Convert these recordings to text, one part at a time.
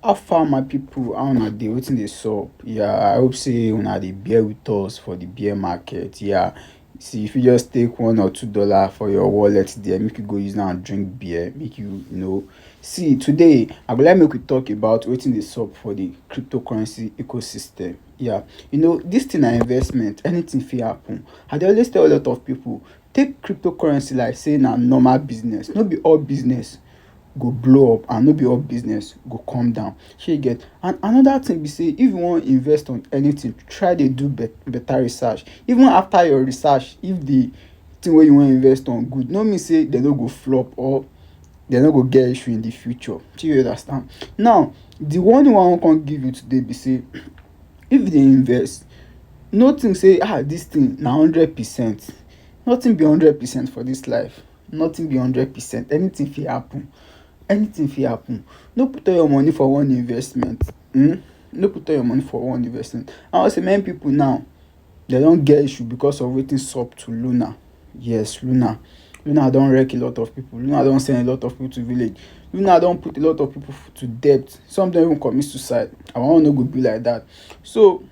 How far my people, how una dey, wetin dey sup? Yeah, I hope sey una dey bear with us for the bear market. Yeah, see if you just take one or two dollar for your wallet there, make you go use am drink beer, make you know. See today, I go like make we talk about wetin dey sup for the cryptocurrency ecosystem. Yeah, you know this thing na investment, anything fit happen. I dey always tell a lot of people, Take cryptocurrency like say na normal business, no be all business go blow up and no be all business go come down, shey you get. And another thing be say if you wan invest on anything, try dey do better research. Even after your research, if the thing wey you wan invest on good, no mean say dem no go flop or dem no go get issue in the future. Shey you understand? Now, the warning wey I wan come give you today be say, If you dey invest, no think sey ah dis thing na hundred percent. Nothing be hundred percent for dis life. Nothing be hundred percent. Anything fit happen. Anything fit happen. No put all your money for one investment. Hm. No put all your money for one investment. I know sey many people now. Dem don get issue because of wetin sup to Luna. Yes, Luna. Luna don wreck a lot of people. Luna don send a lot of people to village. Luna don put a lot of people to debt. Some don even commit suicide. Our own no go be like that. So,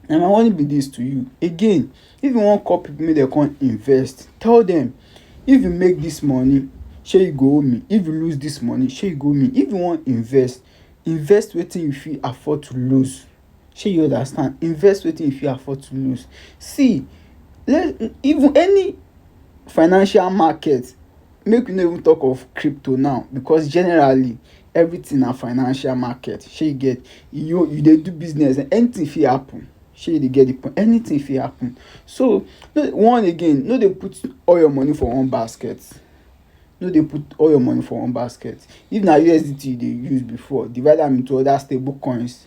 na my warning be this to you. Again, if you wan call people make dem come invest, tell them, if you make this money, shey you go owe me. If you lose this money, shey you go owe me. If you wan invest, invest wetin you fit afford to lose. shey you understand invest wetin you fit afford to loose see even any financial market make we no even talk of crypto now because generally everything na financial market shey you get you you dey do business anything fit happen shey you dey get the point anything fit happen so one again no dey put all your money for one basket no dey put all your money for one basket if na USDT you dey use before divide am into other stable coins